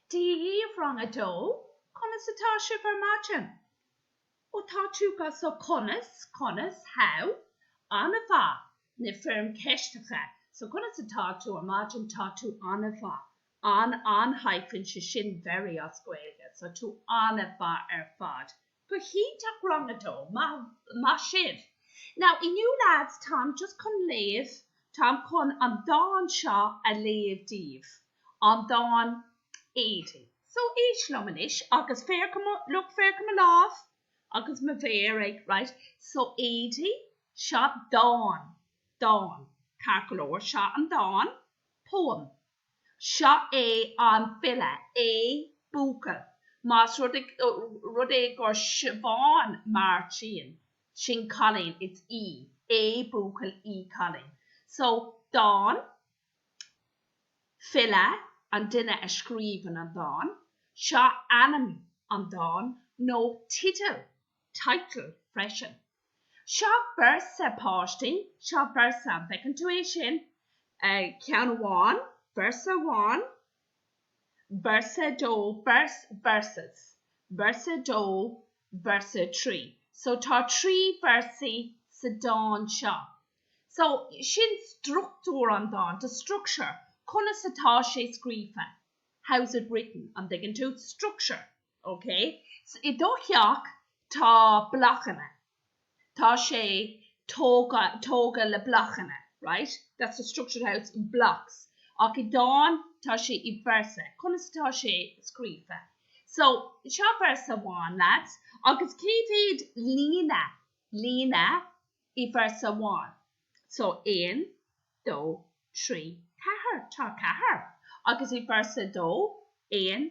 Daoibh Rang a Dó, Conas atá sibh ar maidin? Ó tá tú go so Conas, conas, how? An-mhaith, na foirm ceisteacha So conas atá tú ar maidin? Tá tú an-mhaith An-an-hyphen, sé sin very as Gaeilge, so tú an-mhaith ar fad Go hiontach rang a dó. Maith sibh. Now inniu lads táim just chun léamh, táim chun an dán seo a léamh daoibh, an dán Éadaí. So éist liom anois agus féach, look, féach ar mo lámh agus mo mhéar ag, right, so Éadaí, seo dán, dán, ceart go leor, seo an dán, poem, Seo é an file é buachaill más rud é gur Siobhán Martin sin cailín it's í, é buachaill í cailín so dán, file, an duine a scríobhann an dán, seo ainm an dáin nó teideal title freisin. Seo véarsa páistí, seo véarsa an bhfeiceann tú é sin? ceann amháin, véarsa amháin, véarsa a dó, verse, verses, véarsa a dó, véarsa a trí. So tá trí véarsaí sa dán seo. So sin struchtúr an dáin, the structure, conas atá sé scríofa, how is it written, an dtuigeann tú? Structure. OK, so i do theach tá blochanna, tá sé tógtha, tógtha le blochanna, right? That's a structure house in blocks. Ach i dán tá sé i véarsa. Conas atá sé scríofa? So, seo véarsa amháin, lads, agus cé mhéad líne, líne i véarsa amháin? So, aon, dó, trí, ceathair, tá ceathair. Agus i véarsa a dó, aon,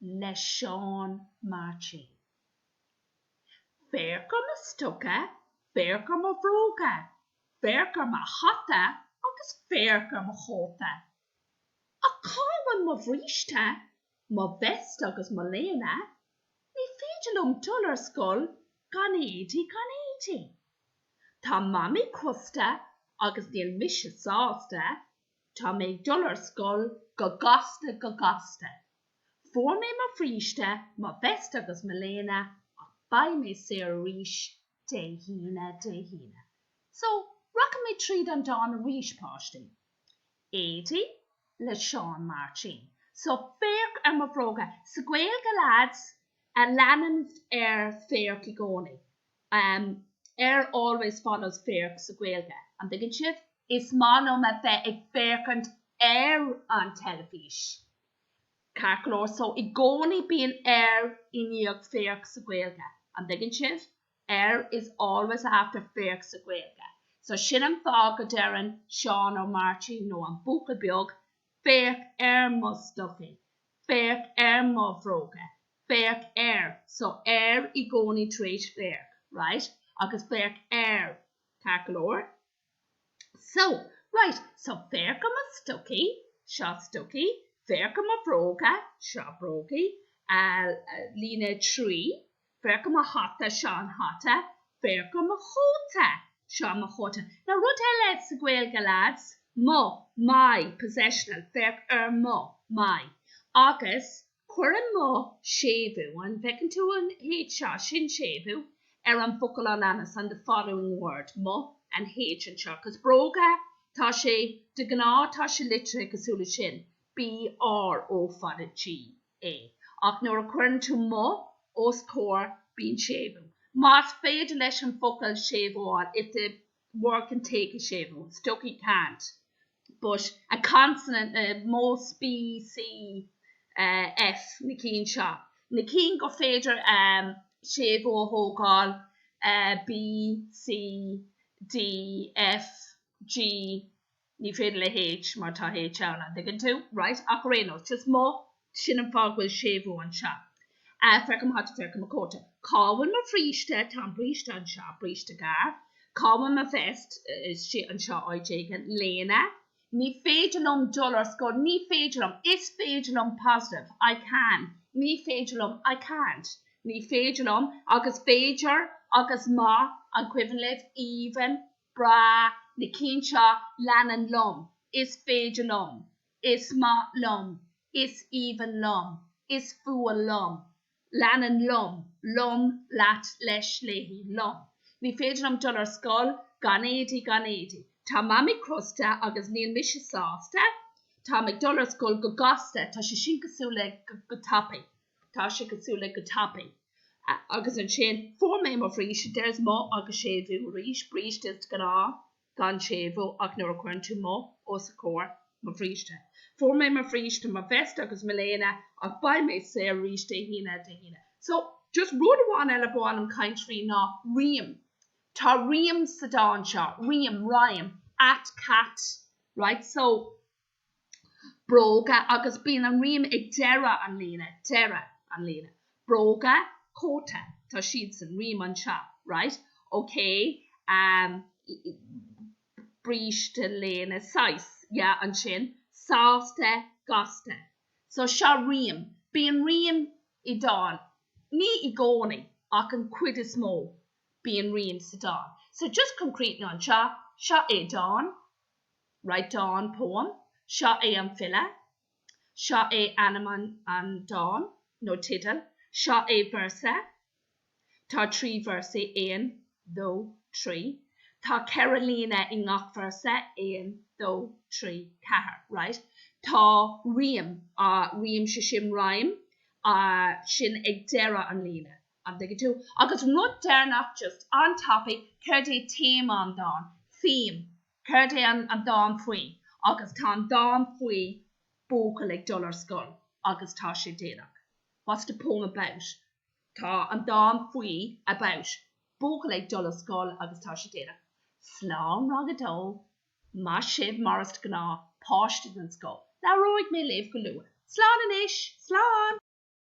le Seán Máirtín. Féach ar mo stoca, féach ar mo bhróga, féach ar mo hata agus féach ar mo chóta. Ach cá bhfuil mo bhríste, mo vest agus mo léine? Ní féidir liom dul ar scoil gan éadaí gan éadaí. Tá Mamaí crosta agus níl mise sásta. Tá mé ag dul ar scoil go gasta go gasta. Fuair mé mo bhríste, mo vest agus mo léine ach beidh mé saor arís Dé hAoine Dé hAoine. So, rachaidh mé tríd an dán arís, páistí. Éadaí le Seán Máirtín. So, féach ar mo bhróga. Sa Gaeilge, leaids, a leanann ar féach i gcónaí. ar always follows féach sa Ghaeilge, an dtuigeann sibh? Is maith liom a bheith ag féachaint ar an teilifís. Ceart go leor, so i gcónaí bíonn ar i ndiaidh féach sa Ghaeilge, an dtuigeann sibh? ar is always after féach sa Ghaeilge. So sin an fáth go ndeireann Seán Ó Máirtín nó an buachaill beag Féach ar mo stocaí. Féach ar mo bhróga. Féach ar. So, ar i gcónaí tar éis féach, right? Agus féach ar ceart go leor? So, right, so féach ar mo stocaí, seo stocaí, féach ar mo bhróga, seo bróga, líne 3, Féach ar mo hata, seo an hata, féach ar mo chóta, seo mo chóta. Now rud eile sa Ghaeilge lads, mo, my, possessional, féach ar mo, my. Agus cuireann mo séimhiú, an bhfeiceann tú an H seo, sin séimhiú ar an bhfocal a leanas, on the following word, mo, an H anseo, 'cause bróga, tá sé, de ghnáth tá sé litrithe cosúil le sin, B, R, O, fada, G. A, ach nuair a chuireann tú mo os comhair bíonn séimhiú. Más féidir leis an focal séimhiú a fháil, if the word can take a séimhiú, stocaí can't, but a consonant, most B, C, F na cinn seo, na cinn gur féidir séimhiú a thógáil B, C, D, F, G. Ní féidir le H mar tá H ann, an dtuigeann tú? Right? Ach ar aon nós, just mo, sin an fáth go bhfuil séimhiú anseo. Féach ar mo hata, féach ar mo chóta. Cá bhfuil mo bhríste? Tá an bríste anseo, bríste gearr. Cá bhfuil mo vest? Istigh anseo áit éigin. Léine? Ní féidir liom dul ar scoil, ní féidir liom, is féidir liom, positive, I can, ní féidir liom, I can't, ní féidir liom, agus b'fhéidir, agus má, an cuimhin libh? Aoibhinn. Is breá, na cinn seo, Leanann liom, Is féidir liom, Is maith liom, Is aoibhinn liom, Is fuath liom. Leanann liom, liom, leat, leis, léi, liom. Ní féidir liom dul ar scoil gan éadaí, gan éadaí. Tá Mamaí crosta agus níl mise sásta. Táim ag dul ar scoil go gasta, tá sé sin cosúil le go tapaidh. tá sé cosúil le go tapaidh agus ansin fuair mé mo bhríste there's mo agus séimhiú arís bríste is de ghnáth gan séimhiú ach nuair a chuireann tú mo os a comhair mo bhríste fuair mé mo bhríste mo bhest agus mo léine ach beidh mé saor arís Dé hAoine Dé hAoine so just rud amháin eile ba mhaith liom caint faoi ná rím tá rím sa dán seo rím, rhyme, at, cat, right so. bróga agus bíonn an rím ag deireadh an líne, deireadh an líne, bróga, cóta, tá siad san rím anseo, right, ok, ehm, bríste, léine, sásta, yeah, ansin, sásta, gasta, so seo rím, bíonn rím i dán, ní i gcónaí ach an chuid is mó bíonn rím sa dán, so just concrete anseo, seo é dán. Right, dán, Poem, Seo é an file, Seo é ainm an dáin nó teideal, Seo é véarsa, Tá trí véarsaí, aon, dó, trí, Tá ceithre líne i ngach véarsa, aon, dó, trí, ceathair, right, Tá rím, rím, so sin rhyme, sin ag deireadh an líne, An dtuigeann tú? Agus rud deireanach, just an-tapaidh, céard é téama an dáin? Theme. Céard é an dán faoi? Agus tá an dán faoi buachaill ag dul ar scoil agus tá sé déanach. What's the poem about? Tá an dán faoi, about, buachaill ag dul ar scoil agus tá sé déanach. Slán Rang a Dó. Maith sibh, mar is gnáth, páistí den scoth. Labhróidh mé libh go luath. Slán anois! Slán!